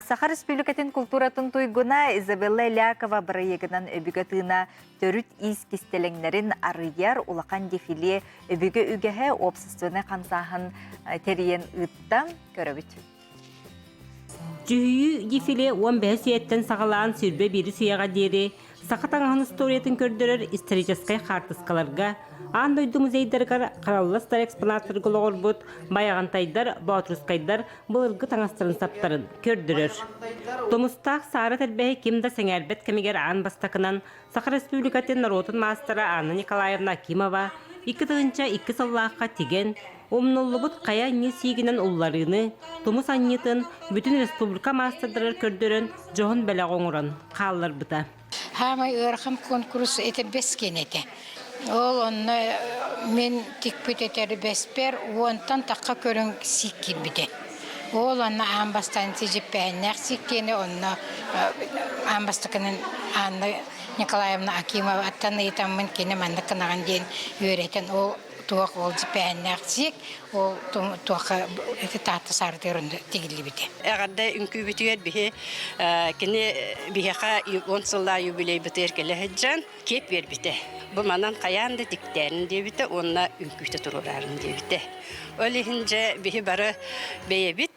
Саха Республикатын култууратын туйгуна Изабелла Элякова бырайыагынан өбүгэ тыына төрүт иис кистэлэҥнэрин арыйар улахан дефиле өбүгэ үгэһэ уопсастыбаннай хамсааһын тэрийэн ыытта көрөбүт. Дьүһүйүү дефиле 15 сиэттэн саҕалаан сирбэ биир сыйаҕа диэри Саха таҥаһын историятын көрдөрөр историческай хаартыскаларга, аан дойду музейдарыгар хараллас да экспонаттарга олоҕурбут байаҕантайдар, боотурускайдар былыргы таҥастарын саптарын көрдөрөр. Тумустаах Саара Тэрбэһи ким да сэҥээрбэт кэмигэр аан бастакынан Саха Республикатын норуотун маастара Анна Николаевна Акимова икки тыһыынча икки сыллаахха тигэн, Умнуллубут хайа анньыы-сиигинэн улларыыны, тумус анньыытын бүтүн республика маастардарыгар көрдөрөн, дьоһун бэлэҕи оҥорон хаалларбыта. Саамай ыарахан куонкурус этэрбэс киэнэ этэ. Ол онно мин тикпит этэрбэспэр уонтан тахха көрүҥ сиик киирбитэ. Ол онно аан бастаан дьиппэһэннээх сиик киэнэ, онно аан бастакынан Анна Николаевна Акимоваттан ыйытаммын кини маннык гынаҕын диэн үөрэтэн ол туох ол дьипээннээх сиик ол туохха ити таатта саартыгар тигиллибитэ эҕэрдэ үҥкүүбүтүгэр биһи кини биһиэхэ он сыллаа юбилейбытыгар кэлэ сылдьан киэп биэрбитэ бу манан хайаан да тиктээнин диэбитэ уонна үҥкүүтэ туруораарын диэбитэ ол иһин дьэ биһи бары бэйэбит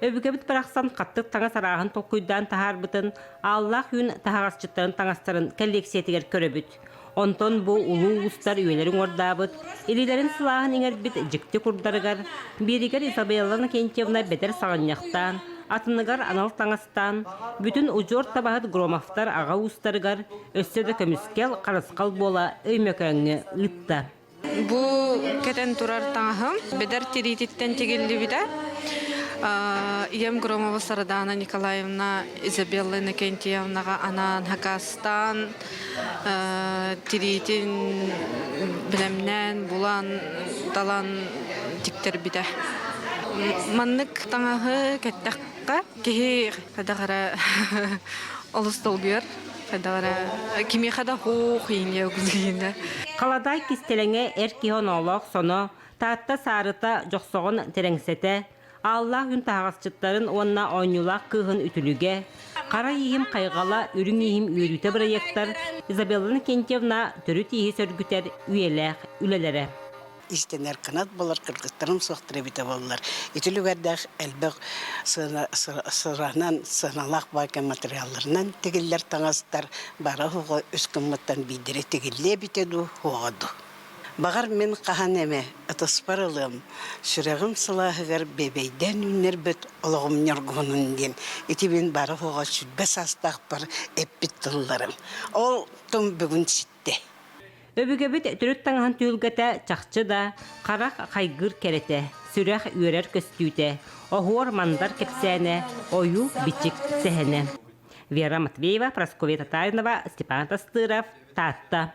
Өбүгэбит барахсан хаттык таҥас арааһын толкуйдаан таһаарбытын, ааллаах үүн таһаҕасчыттарын таҥастарын кэллиэксийэтигэр көрөбүт. Онтон бу улуу уустар үйэлэрин уордаабыт, илиилэрин сылааһын иҥэрбит дьикти курдарыгар, биэригэр Изабелла Накентьевна бэдэр саҕынньахтаан, атыныгар анал таҥастаан, бүтүн удьуор табаһыт Громовтар аҕа уустарыгар өссө да көмүскэл, харысхал буола Өймөкөөҥҥө ыытта. Бу кэтэн турар таҥаһым бэдэр тириититтэн тигиллибитэ. Ийэм Громова Сардаана Николаевна, Изабелла Иннокентьевнаҕа анаан хакастаан тириитин бэлэмнээн, булан, талан тиктэрбитэ. Маннык таҥаһы кэттэххэ киһи хайдах эрэ олус долгуйар. Халадаай кистэлэҥэ эр киһи оноолоох соно, Таатта саарыта дьохсоҕун тэрэҥсэтэ, ааллаах үн таһаҕасчыттарын уонна оонньуулаах кыыһын үтүлүгэ, Хара ииһим хайҕала үрүҥ ииһим үөрүүтэ бырайыактар Изабелла Иннокентьевна төрүт ииһи сөргүтэр үйэлээх үлэлэрэ. иштэнэр кынат болар кыргыттарым суохтар эбитэ боллар ити люгэрдээх элбэх сыранан сыаналаах баайка материалларынан тигиллэр таҥастар бара оһоҕо үс кыммыттан биидири тигиллиэ эбитэ дуу оҕо дуу Бағар мен қахан эме ытыспар ылым, сүрәғім сылаһыгар бебейден үннербет олоғым ньоргуһунун ден итибин бары хоға сүрбе састақпар эппит тылларым. Ол тым бүгүн эттэ. Өбүгэбит төрүт таҥаһын түһүлгэтэ чахчы да харах хайгыыр кэрэтэ, сүрэх үөрэр көстүүтэ, оһуор-мандар кэпсээнэ, ойуу-бичик сэһэнэ. Вера Матвеева, Прасковья Татаринова, Степан Тастыров, Таатта.